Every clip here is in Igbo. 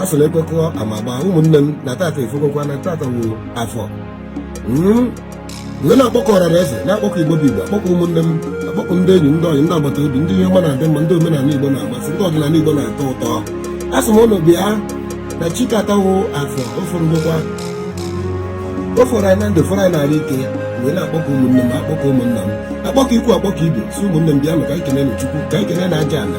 asịla ekwekọọ amagba ụmụnne m na tata efekọkwa na tata wụ afọ m wee na-akpọkọ ọra na eze na-akpọkọ igbo bụ igbo akpọkọ ụmụnne m akpọkọ ndị enyi ndị ọyị ndị agbata obi ndị ihe ọma na-adị mma ndị omenala igbo na-amasị ndị ọdịnala igbo na-atọ ụtọ asị m ụnụ bịa na chi ke tata wụ afọ ofuru ngwụkwa o fọrọ anyị na ndụ fọrọ anyị n'ahụ ike wee na-akpọkọ ụmụnne m akpọkọ ụmụnna m akpọkọ ikwu akpọkọ ibe sị ụmụnne m bịa ka anyị kene chukwu ka anyị kene aja ala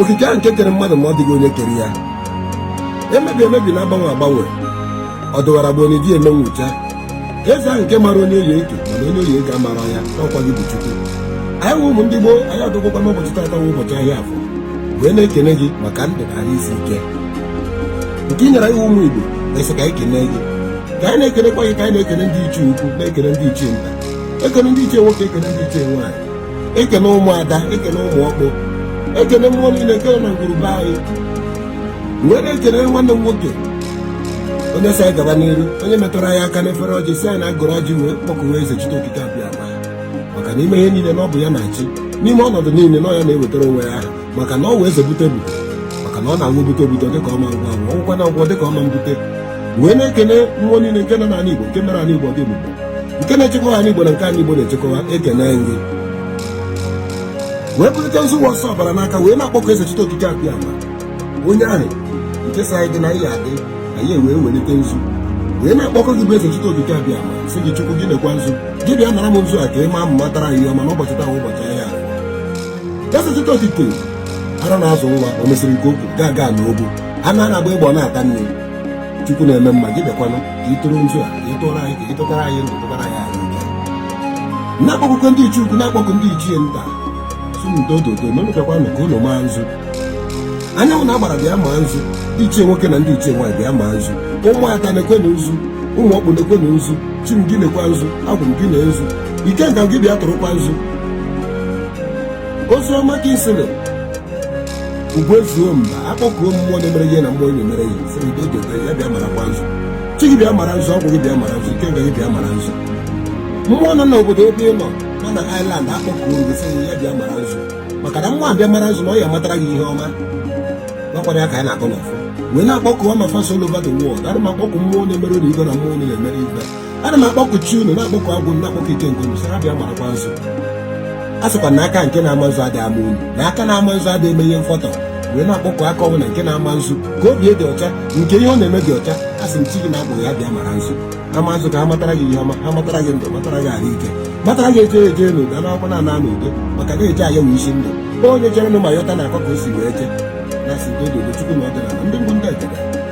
okike ahụ nke kere mmadụ ma ọ dịghị onye kere ya emebi emebi na agbanwe agbanwe ọ dụwara bụ onye di eme nwụcha eze ahụ nke mara onye ọ ya-eke mana onye ọ ya-eke amarọ ya na ọ kwa gị bụ chukwu anyị wụ ụmụ ndị gboo anyị adụgwokwa n'ụbọchị tata wụ ụbọchị ahịa afọ wee na-ekene gị maka ndụ na ahụ isi ike nke ị nyere anyị ụmụ igbo na-asị ka anyị kene gị ka anyị na-ekenekwa gị ka anyị na-ekene ndị ichie ukwu na-ekene ndị ichie nta ekene ndị ichie nwoke ekene ndị ichie nwaanyị ekene ụmụada ekene ụmụ ọkpụ ekene mmụọ niile nke nọ na ngwuru be anyị wee na-ekene nwanne m nwoke onye sị anyị gaba n'iru onye metụrụ anyị aka n'efere ọjị sị anyị na agọrọ ọjị wee kpọkuwa eze chite okike abịama maka n'ime ihe niile na ọ bụ ya na-achị n'ime ọnọdụ niile na ọ ya na-ewetara onwe ya aha maka na ọ wee zebute bụ maka na ọ na-anwụ bute obuto dịka ọma ngwa ngwa ọgwụkwa na ngwọ dịka ọma mbute wee na-ekene mmụọ niile nke nọ n'ala Igbo nke mere ala Igbo dị ebube nke na-echekwa ala Igbo na nke ala Igbo na-echekwa ekene nri wee bulite nzu ụwa ọsọ ọbara n'aka wee na-akpọkọ eze chite okike abịama onye ahụ nke sị anyị dị na ihe adị anyị ewee welite nzu wee na-akpọkọ gị bụ eze chite okike abịama sị gị chukwu gị nekwa nzu gị bịa nara m nzu a ka ị maa matara ihe ọma n'ụbọchị taa ụbọchị ahịa eze chite okike ara na-azụ nwa o mesịrị nke o kwuru agaga n'ogwu anụ a na-agba egbe ọ na-ata nri Chukwu na-eme mma gị bịakwanụ ka ị tụrụ nzu a ka ị tụrụ anyị ka ị tụtara anyị ndụ tụtara anyị ahụ ike na-akpọku ndị ichie ukwu na-akpọku ndị ichie nta sị m doo doo na ụnụ bịakwanụ ka ụnụ maa nzu anyanwụ na agbara bịa maa nzu ndị ichie nwoke na ndị ichie nwaanyị bịa maa nzu ụmụada nekwanụ nzu ụmụ ọkpụ nekwanụ nzu chi m gị nekwa nzu agwụ m gị ne nzu ikenga gị bịa tụrụkwa nzu ozioma ka isi dị ugwu ezuo mba akpọkuo mmụọ na-emere ihe na mmụọ na-emere ihe sịrị doo doo ya bịa marakwa nzu chi gị bịa mara nzu agwụ gị bịa mara nzu ikenga gị bịa mara nzu mmụọ nọ n'obodo ebe ị nọ nọ na Ireland akpọkuo gị sịrị ya bịa mara nzu maka na mmụọ abịa mara nzu na ọ ya-amatara gị ihe ọma gwakwara ya ka anyị na-akọ n'ọfọ wee na-akpọkuwa my fans all over the world ana m akpọku mmụọ na-emere ụnụ ihe na mmụọ na-emere ihe ana m akpọku chi unu na-akpọku agwụ m na-akpọku ike nke unu sị ha bịa marakwa nzu a sịkwa na aka nke na-ama nzu adịghị ama unu na aka na-ama nzu adịghị eme ihe mfọtọ wee na-akpọku aka ọwụna nke na-ama nzu ka obi dị ọcha nke ihe ọ na-eme dị ọcha a sị m chi gị na agwụ gị ha bịa mara nzu ha ma nzu ka ha matara gị ihe ọma ha matara gị ndụ matara gị ahụ ike matara gị eje eje n'udo anakwukwanụ ana n'udo maka na eje ana wụ isi ndụ onye jere nụ ma yọta na-akọ ka o si wee jee na-asị dododo chukwu na ọdịnala ndị mbụ ndị egede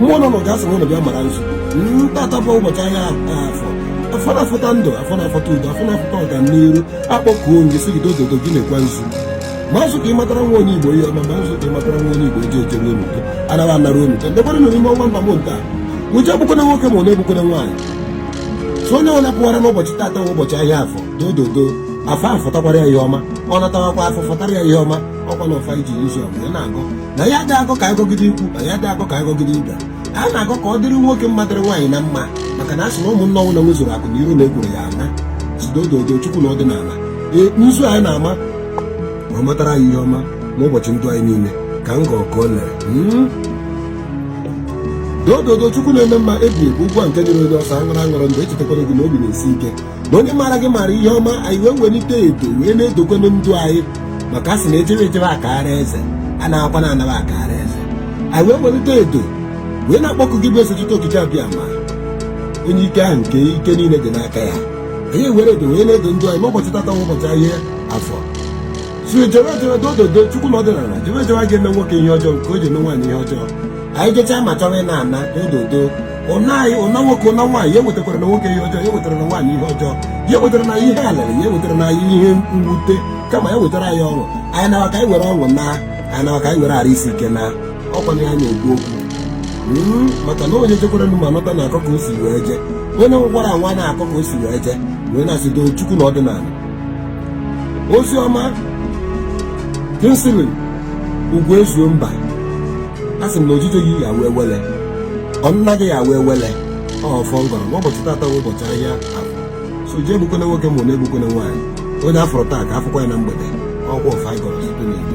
mmụọ nọ n'ụga asị ụlọ bịa mara nzu na tata bụ ụbọchị ahịa afọ afọ na-afọta ndụ afọ na-afọta udo afọ na-afọta ọganiru akpọkuo m gị sị gị dododo gị narakwa nzu ma nzu ka ị matara nwa onye igbo ihe ọma ma nzu ka ị matara nwa onye igbo eji ejere unu udo anaghị anara unu udo ndebere nọ n'ime ọnwa ember month a ije egbukwana nwoke ma ụna egbukwana nwaanyị sị onye ọwụla pụwara n'ụbọchị tata wụ ụbọchị ahịa afọ dododo afọ afọtakwara ya ihe ọma ọ natawakwa afọ fọtara ya ihe ọma ọkwa na ọfọ anyị ji izu ọwụla na-agọ na anyị adị agọ ka a gọgide ikwu na anyị adị agọ ka a gọgide ibe a na-agọ ka ọ dịrị nwoke mma dịrị nwaanyị na mma maka na a sị na ụmụnna ọwụna nwezuru akụ na iro na ekworo ya ana sị dododo chukwu na ọdịnala ee nzu anyị na-ama ma ọ matara anyị ihe ọma n'ụbọchị ndụ anyị niile ka m gọọ ka o lere doododo chukwu na-eme mma ebi ebi ugbu a nke nyere onye ọsọ aṅụrụ aṅụrụ mgbe echetakwara gị na obi na-esi ike na onye maara gị maara ihe ọma anyị wee welite edo wee na-edokwanụ ndụ anyị maka a sị na ejebe ejebe akara eze anakwanụ anaba akara eze anyị wee welite edo wee na-akpọkụ gị bụ eze chite okike abịama onye ike ahụ nke ike niile dị n'aka ya anyị were edo wee na-edo ndụ anyị ma ụbọchị tata wụ ụbọchị ahịa afọ sị ejewe ejewe dododo chukwu na ọdịnala ejewe ejewe a ga-eme nwoke ihe ọjọọ nke o ji eme nwaanyị ihe ọjọọ anyị jechaa ma chọrọ ịna ana dododo ụna anyị ụna nwoke ụna nwaanyị ya ewetarana nwoke ihe ọjọọ ya ewetarana nwaanyị ihe ọjọọ ya ewetarana ihe alịlị ya ewetarana ihe mwute kama ya wetara anyị ọṅụ anyị nawa ka anyị were ọṅụ naa anyị nawa ka anyị were arụ isi ike naa ọkwa na ya na-ekwu okwu hmm, maka na onye jekwara nụ ma nọta na-akọ ka o si wee jee onye nwekwara nwa na-akọ ka o si wee jee wee na-asị doo chukwu na ọdịnala ozi ọma Kingsley Ugwuezumba a sị m na ojije gị ya wee wele ụna gị ya wee wele ọ ọfọ m gọrọ ma ụbọchị tata bụ ụbọchị ahịa afọ sị ije egbukwana nwoke ma ụna egbukwana nwaanyị onye a fụrụ taa ka a fụkwa ya na mgbede ọkwa ọfọ anyị gọrọ site n'igbo